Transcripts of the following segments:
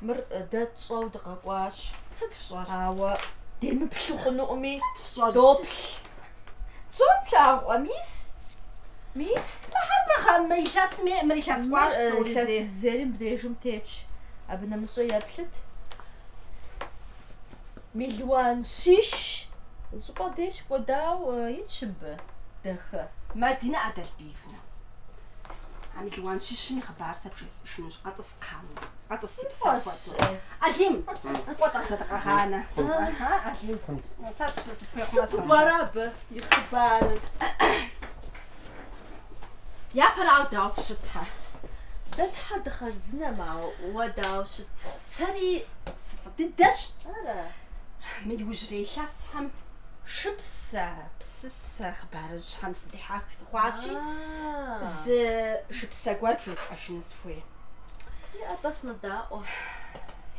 Мыр дэ тщӏэу дыкъэкӏуащ. Сыт фщӏэр? Ауэ демыплъу хъунуӏыми, фщӏэр доплъ. Псом плъагъукъэ, мис? Мис? Мыхьэр мыхъэ, мы илъэсми, мыр Мыр илъэс кӏуащ псори зи. илъэс зэри мыбдежым тетщ. Абы нэмыщӏэ еплъыт. Мелуан щищ щӏыпӏэ деж кӏуэдауэ итщ мыбы, дахэ. Мадинэ Адалбиевнэ, А мелуан щищым и хъыбар сэ пжесӏэжынущ, къэтӏыс кхъауэ, къэтӏыс си псэ хуиту. Алим, кӏуэ тӏэ сэ дыкъэгъанэ. Аха, Алим, сэ сыпхуехъумэ Сыту пӏэрэ абы и хъыбарыр? Япэрауэ дауэ фыщытхьэ? Дэ тхьэ дыхъарзынэм, ауэ уэ дауэ ущыт? Сэри сыфӏы дыдэщ. Ара? Мы иужьрей илъэсхэм Шыпсэ, псысэ хъыбарыжьхэм сыдихьэх сыхъуащи, зы шыпсэ гуэр пжесӏэжыну сыхуей. Иӏэ тӏэ, сынодаӏуэ.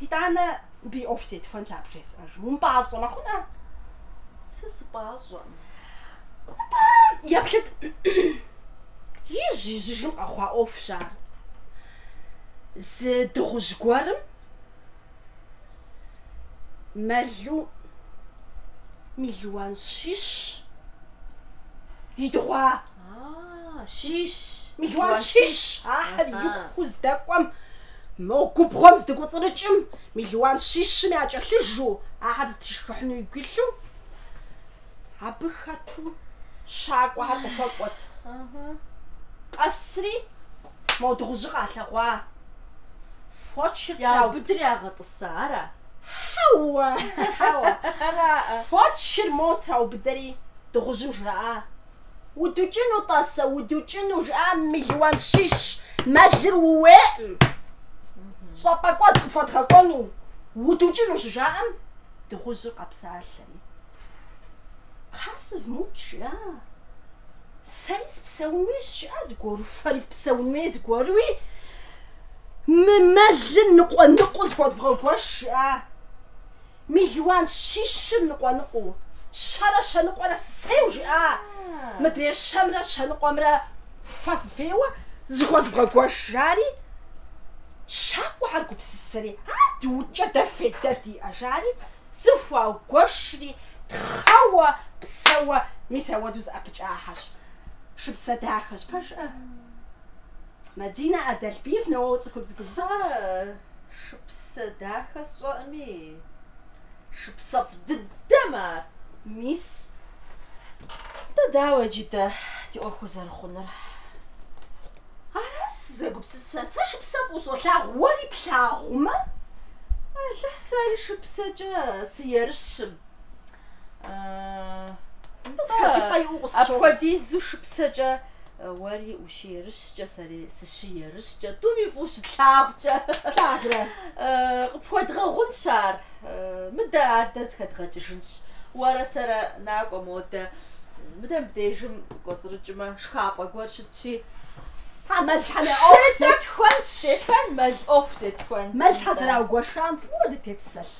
Итӏанэ мыбы и ӏуэху зетхуэнщ ар пжесӏэжым. Умыпӏащӏэмэ хъунӏэ? Сэ сыпӏащӏэкъым. Атӏэ, еплъыт. Ижь-ижьыжым къэхъуа ӏуэхущ ар. Зы дыгъужь гуэрым мэлу мелуан щищ идыгъуащ, щищ, мелуан щищ ахэр ихуу здэкӏуэм мо губгъуэм здыкӏуцӏрыкӏым мелуан щищым якӏэлъыжэу ахэр зытишхыхьыну игу илъу абы хэту щакӏуэхэр къыхуэкӏуэт къэсри Мо дыгъужьыр къалъэгъуа? Фочыр траубыдэри ягъэтӏыса, ара? Хьэуэ, хьэуэ. Фочыр мо траубыдэри дыгъужьым жраӏа? Удукӏыну тӏасэ, удукӏыну, жыӏа мелуан щищ, мэлыр ууейӏым. Щӏапӏэкӏуэд къыпхуэдгъэкӏуэну удукӏыну щыжаӏэм, дыгъужьыр къэпсалъэри. Хьа, сывмыукӏ жиӏа? Сэри сыпсэун хуейщ, жиӏа, зыгуэру, фэри фыпсэун хуей зыгуэруи, мы мэлым ныкъуэ-ныкъуэу зыхуэдвгъэгуэш, жиӏа. Мелуан щищыр ныкъуэ-ныкъуэу, щэрэ щэныкъуэрэ сысейу, жиӏа. Мыдрей щэмрэ щэныкъуэмрэ Фэ фыфеуэ зыхуэдвгъэгуэш, жари, щакӏуэхэр гупсысэри, ар дыукӏэ дэ фейдэ диӏэ, жари, зыхуагуэшри, тхъэуэ, псэуэ, мис ауэдэу зэӏэпыкӏахьэщ. Шыпсэ дахэщ, пэжыӏэ? Мадинэ Адалбиевнэ, уэ уцӏыхубз губзыгъэщ. Ары, шыпсэ дахэ сщӏэӏыми. Шыпсэфӏ дыдэм ар, мис. Атӏэ, дауэ иджы дэ ди ӏуэхур зэрыхъунур? Ара сызэгупсысэр? Сэ шыпсэ фӏыуэ солъагъу, уэри плъагъумэ, Алыхь сэри шыпсэкӏэ сыерыщым. Атӏэ, апхуэдизу шыпсэкӏэ уэри Ущыерыщкӏэ сэри сыщыерыщкӏэ, тӏуми фӏыуэ щытлъагъукӏэ. Лъагрэ. Къыпхуэдгъэгъунщ ар. Мыдэ адэ зыхэдгъэкӏыжынщ. Уэрэ сэрэ накӏуэ модэ. Мыдэ мыбдежым кӏуэцӏрыкӏмэ, шхапӏэ гуэр щытщи. Хьэ, мэлхьэмэ, ӏуэху зетхуэнщ. Зетхуэн, мэл ӏуэху зетхуэн. Мэлхьэ зэраугуэшам фӏыуэ дытепсэлъ.